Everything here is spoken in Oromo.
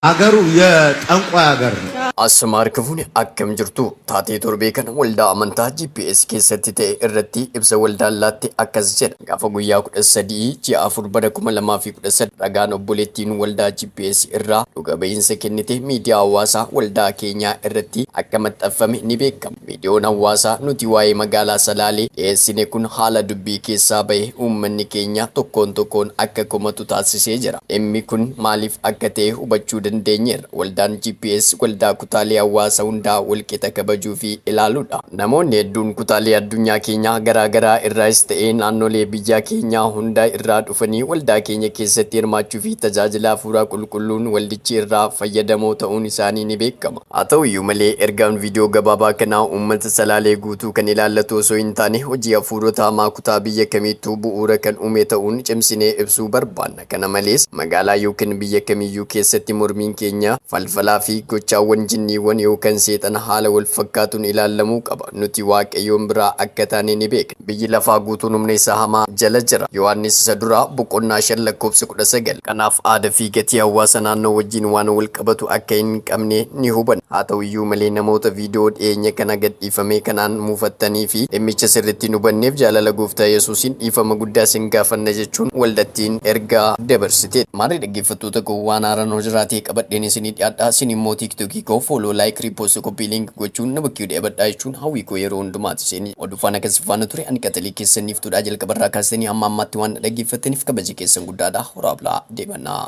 Agaru ye xanqway agarre. Asm Harkifune akkam jirtu? Taatee torbee kana waldaa amantaa GPS keessatti ta'e irratti ibsa waldaan laatte akkas jedha. Gaafa guyyaa 13 ji'a 4 bara 2013 ragaan obboleettiin waldaa GPS irraa dhuga ba'iinsa kennite miidiyaa hawaasaa waldaa keenyaa irratti akka maxxanfame ni beekama. Viidiyoon hawaasaa nuti waa'ee magaalaa Salaalee dhiyeessine kun haala dubbii keessaa bahe uummanni keenya tokkoon tokkoon akka komatu taasisee jira. Dhimmi kun maaliif akka ta'e hubachuu dandeenyeerra. Waldaan GPS waldaa kutaalee hawaasa hundaa walqixa kabajuu fi ilaaluudha. Namoonni hedduun kutaalee addunyaa keenyaa garaa garaa irraayis ta'ee naannolee biyyaa keenyaa hunda irraa dhufanii waldaa keenya keessatti hirmaachuu fi tajaajila Hafuura Qulqulluun waldichi irraa fayyadamoo ta'uun isaanii ni beekama. Haa ta'u iyyuu malee, ergaan viidiyoo gabaabaa kanaa uummata Salaalee guutuu kan ilaallatu osoo hin taane, hojii hafuurota hamaa kutaa biyya kamiittuu bu'uura kan uume ta'uun cimsinee ibsuu barbaanna. Kana malees, magaalaa yookan biyya kamiyyuu keessatti mormiin keenya, falfalaa fi gochaawwan jinniiwwan yookan seexana haala wal fakkaatuun ilaallamuu qaba. Nuti Waaqayyoon biraa akka taane ni beekna. Biyyi lafaa guutuun humna isa hamaa jala jira. Yohaannis isa duraa boqonnaa 5 lakkoofsi 19. Kanaaf aada fi gatii hawaasa naannoo wajjin waan wal qabatu akka hin qabne ni hubanna. Haa ta'u iyyuu malee namoota viidiyoo dhiyeenya kana gadhiifamee kanaan muufattanii fi dhimmicha sirritti hin hubanneef jaalala gooftaa Yesuusiin dhiifama guddaa sin gaafanna jechuun waldattiin ergaa dabarsiteetti. Maarree dhaggeeffattoota koo waan haaraan hoo jiraatee qabadheen isinii dhiyaadha. Isin immoo TikTok koo Follow, Like, Repost, Copy Link gochuun na bukkee dheebadhaa jechuun hawwii koo yeroo hundumaati. Isin. Oduu faana kan si faana ture ani qaxalee keessan niiftuudhaa jalqabarraa kaastanii hamma ammaatti waan na dhaggeeffattaniif kabaja keessan guddaadha horaa bulaa deebannaa.